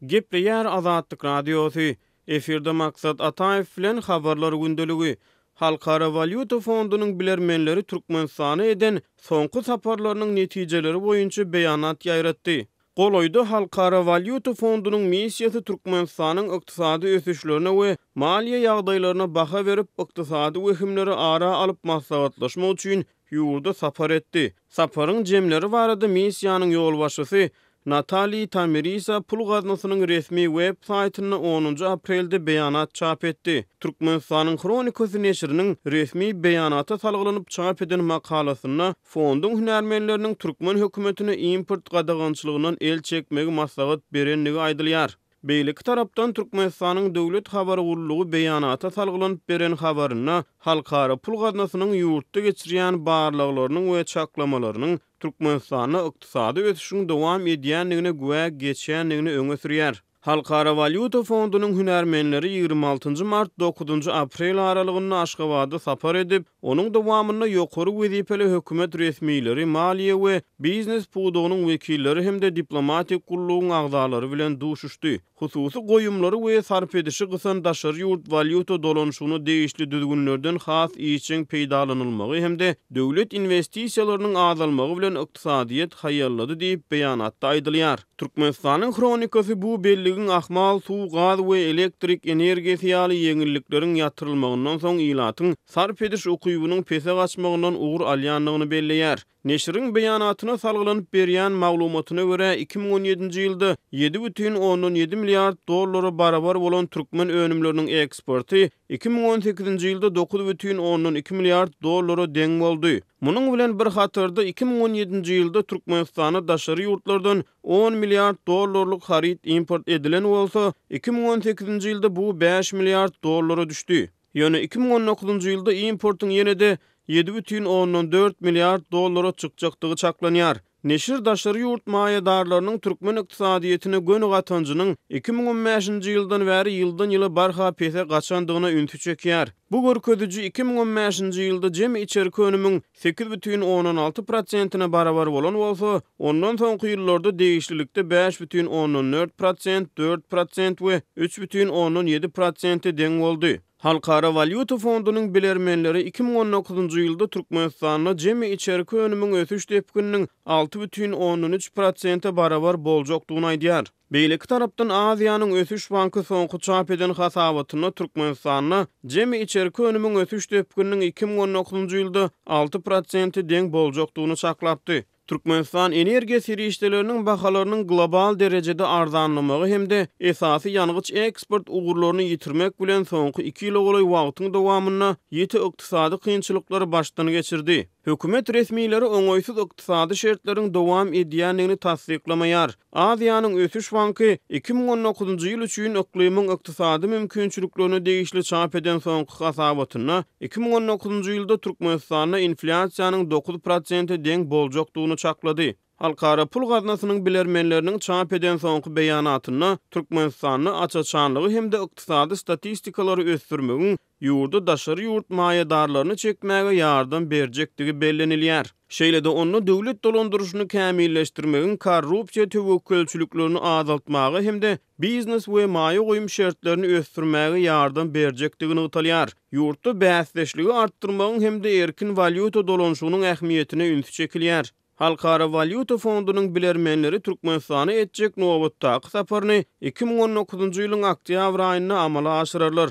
Gepleýär Azatlyk Radiosy, efirde Maksat Ataýew bilen Habarlar gündeligi. Halkara walýuta fondunyň bilermenleri Türkmenistana eden soňky saparlarynyň netijeleri boýunça beýanat ýaýratdy. Golaýda Halkara walýuta fondunyň missiýasy Türkmenistanyň ykdysady ösüşlerine we maliýe ýagdaýlaryna baha berip, ykdysady wehimleri ara alyp maslahatlaşmak üçin ýurda sapar etdi. Saparyň jemleri barada missiýanyň ýolbaşçysy Natali Tamirisa pul gaznasynyň resmi web saýtynda onunjy aprelde beýanat çap etdi. Türkmenistanyň Hronikasy neşiriniň resmi beýanata salgylanyp çap eden makalasynda fonduň hünärmenleriniň türkmen hökümetine import gadagançylygyndan el çekmegi maslahat berendigi aýdylýar. Beýleki tarapdan Türkmenistanyň Döwlet habar gullugy beýanata salgylanyp beren habarynda Halkara pul gaznasynyň ýurtda geçirýän barlaglarynyň we çaklamalarynyň Türkmenistanda ykdysady ösüşiň dowam edýändigine güwä geçýändigini öňe sürýär. Halkara walýuta fondunyň hünärmenleri ýigrimi altynjy mart, dokuzynjy aprel aralygynda Aşgabada sapar edip, Onuň dowamynda ýokary wezipeli hökümet resmileri, maliýe we biznes pudagynyň wekilleri hem-de diplomatik gullugyň agzalary bilen duşuşdy. Hususy goýumlary we sarp edişi gysan daşary ýurt walýuta dolanyşygyna degişli düzgünlerden has işjeň peýdalanylmagy hem-de döwlet inwestisiýalarynyň azalmagy bilen ykdysadyýet haýallady diýip, beýanatda aýdylýar. Türkmenistanyň hronikasy bu belligiň ahmal suw, gaz we elektrik energiýasy ýaly ýeňillikleriň ýatyrylmagyndan soň ilatyň sarp ediş ukybynyň pese gaçmagyndan ugur alýandygyny belleýär. Neşiriň beýanatyna salgylanyp berýän maglumatyna görä, iki müň on ýedinji ýylda ýedi bütin ondan ýedi milliard dollara barabar bolan türkmen önümleriniň eksporty iki müň on sekizinji ýylda dokuz bütin ondan iki milliard dollara deň boldy. Munuň bilen bir hatarda, iki müň on ýedinji ýylda Türkmenistana daşary ýurtlardan on milliard dollarlyk haryt import edilen bolsa, iki müň on sekizinji ýylda bu bäş milliard dollara düşdi. Ýöne iki müň on dokuzynjy ýylda importyň ýene-de ýedi bütin ondan dört milliard dollara çykjakdygy çaklanýar. Neşir daşary ýurt maýadarlarynyň türkmen ykdysadyýetine göni gatanjynyň iki müň on bäşinji ýyldan bäri ýyldan-ýyla barha pese gaçandygyna ünsi çekýär. Bu görkeziji iki müň on bäşinji ýylda jemi içerki önümiň sekiz bütin ondan alty prosentine barabar bolan bolsa, ondan soňky ýyllarda degişlilikde bäş bütin ondan dört prosent, dört prosent we üç bütin ondan ýedi prosente deň boldy. Halkara walýuta fondunyň bilermenleri iki müň on dokuzynjy ýylda Türkmenistanda jemi içerki önümiň ösüş depgininiň alty bütin ondan üç prosente barabar boljakdygyny aýdýar. Beýleki tarapdan Aziýanyň ösüş banky soňky çap eden hasabatynda Türkmenistanda jemi içerki önümiň ösüş depgininiň iki müň on dokuzynjy ýylda alty prosente deň boljakdygyny çaklapdy. Türkmenistan energiýa serişdeleriniň bahalarynyň global derejede arzanlamagy hem-de esasy ýangyç eksport ugurlaryny ýitirmek bilen soňky iki ýyla golaý wagtyň dowamynda ýiti ykdysady kynçylyklary başdan geçirdi. Hökümet resmileri oňaýsyz ykdysady şertleriň dowam edýändigini tassyklamaýar. Aziýanyň ösüş banky iki müň on dokuzynjy ýyl üçin yklymyň ykdysady mümkinçiliklerine degişli çap eden soňky hasabatynda iki müň on dokuzynjy ýylda Türkmenistanda inflýasiýanyň dokuz prosente deň boljakdygyny çaklady. Halkara pul gaznasynyň bilermenleriniň çap eden soňky beýanatynda Türkmenistanda aç-açanlygy hem-de ykdysady statistikalary ösdürmegiň ýurda daşary ýurt maýadarlaryny çekmäge ýardam berjekdigi bellenilýär. Şeýle-de onda döwlet dolandyryşyny kämilleşdirmegiň korrupsiýa töwekgelçiliklerini azaltmaga hem-de biznes we maýa goýum şertlerini ösdürmäge ýardam berjekdigi nygtalýar. Ýurtda bäsdeşligi artdyrmagyň hem-de erkin walýuta dolanyşygynyň ähmiýetine üns çekilýär. Halkara walýuta fondunyň bilermenleri Türkmenistana etjek nobatdaky saparyny iki müň on dokuzynjy ýylyň oktýabr aýynda amala aşyrarlar.